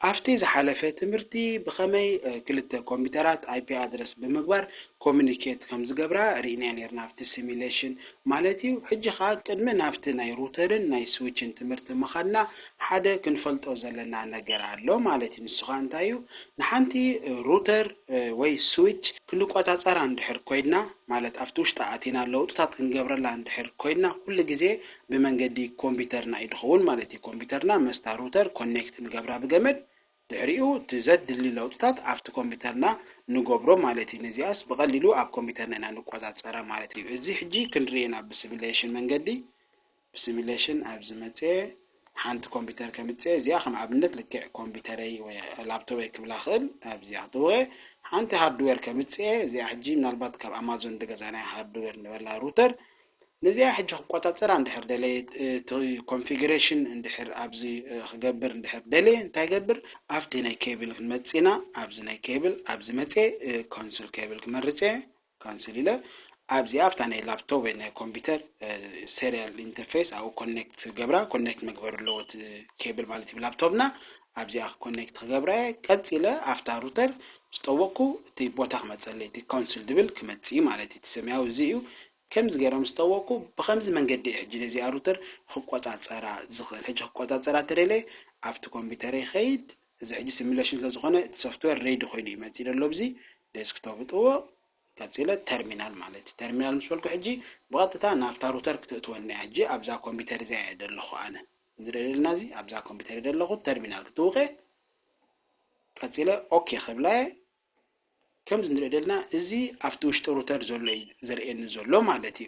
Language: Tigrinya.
ኣብቲ ዝሓለፈ ትምህርቲ ብኸመይ ክልተ ኮምፒተራት ኣይፒ ኣድረስ ብምግባር ኮሙኒኬት ከምዝገብራ ርኢና ኔርና ኣብቲ ሲሚሌሽን ማለት እዩ ሕጂ ከኣ ቅድሚ ናብቲ ናይ ሩተርን ናይ ስዊችን ትምህርቲ ምኻድና ሓደ ክንፈልጦ ዘለና ነገር ኣሎ ማለት እዩ ንሱ ከኣ እንታይ እዩ ንሓንቲ ሩተር ወይ ስዊች ክንቆጻጸራ እንድሕር ኮይና ማለት ኣብቲ ውሽጣ ኣቲና ለውጥታት ክንገብረላ እንድሕር ኮይና ኩሉ ግዜ ብመንገዲ ኮምፒተርና እዩ ድኸውን ማለት እዩ። ኮምፒተርና ምስታ ሩተር ኮኔክት ንገብራ ብገመድ፣ ድሕሪኡ እቲ ዘድሊ ለውጥታት ኣብቲ ኮምፒተርና ንገብሮ ማለት እዩ። ነዚኣስ ብቐሊሉ ኣብ ኮምፒተርና ኢና ንቆጻጸራ ማለት እዩ። እዚ ሕጂ ክንርእዮ ኢና ብስሚሌሽን መንገዲ። ብስሚሌሽን ኣብ ዝመጽኤ ሓንቲ ኮምፒተር ከምጽኤ እዚኣ ከም ኣብነት ልክዕ ኮምፒተረይ ወይ ላፕቶበይ ክብላ ክእል ኣብዚኣ ክትውቐ ሓንቲ ሃርድዌር ከምጽኤ እዚኣ ሕጂ ምናልባት ካብ ኣማዞን ድገዛናያ ሃርድዌር ንበላ ሩተር ነዚኣ ሕጂ ክቆጻጸራ እንድሕር ደለየ እቲ ኮንፊግሬሽን እንድሕር ኣብዚ ክገብር እንድሕር ደልየ እንታይ ይገብር ኣብቲ ናይ ኬብል ክንመጽእ ኢና ኣብዚ ናይ ኬብል ኣብዚ መጽየ ኮንሱል ኬብል ክመርጽ እየ ካንስል ኢለ ኣብዚኣ ኣብታ ናይ ላፕቶፕ ወይ ናይ ኮምፒውተር ሴሪያል ኢንተርፌስ ኣብኡ ኮኔክት ክገብራ ኮኔክት መግበር ኣለዎ እቲ ኬብል ማለት እዩ ላፕቶፕና ኣብዚኣ ኮኔክት ክገብራ እየ ቀጺለ ኣብታ ሩተር ዝጠወቅኩ እቲ ቦታ ክመጸለይ እቲ ኮንሱል ድብል ክመጽእ ማለት እዩ እቲ ሰማያዊ እዚ እዩ ከምዚ ገይረ ምስ ጠወቕኩ ብኸምዚ መንገዲ እየ ሕጂ ነዚኣ ሩተር ኽቆጻጸራ ዝኽእል። ሕጂ ኽቆጻጸራ ተደልየ ኣብቲ ኮምፒተረይ ይኸይድ። እዚ ሕጂ ሲሙለሽን ስለ ዝኾነ እቲ ሶፍትዌር ሬዲ ኮይኑ እዩ መጺኡ ዘሎ ኣብዚ ዴስክቶፕ እጥውቕ። ቀጺለ ተርሚናል ማለት እዩ። ተርሚናል ምስ በልኩ ሕጂ ብቐጥታ ናብታ ሩተር ክተእትወኒ እያ። ሕጂ ኣብዛ ኮምፒተር እዚኣ እየ ዘለኹ ኣነ። እዚ ንርእዮ ዘለና እዚ ኣብዛ ኮምፒተር እየ ዘለኹ። ተርሚናል ክጥውቕ እየ። ቀጺለ ኦኬ ክብላ እየ። ከምዚ ንሪኦ ደልና እዚ ኣብቲ ውሽጢ ሩተር ዘሎ እዩ ዘርእየኒ ዘሎ ማለት እዩ።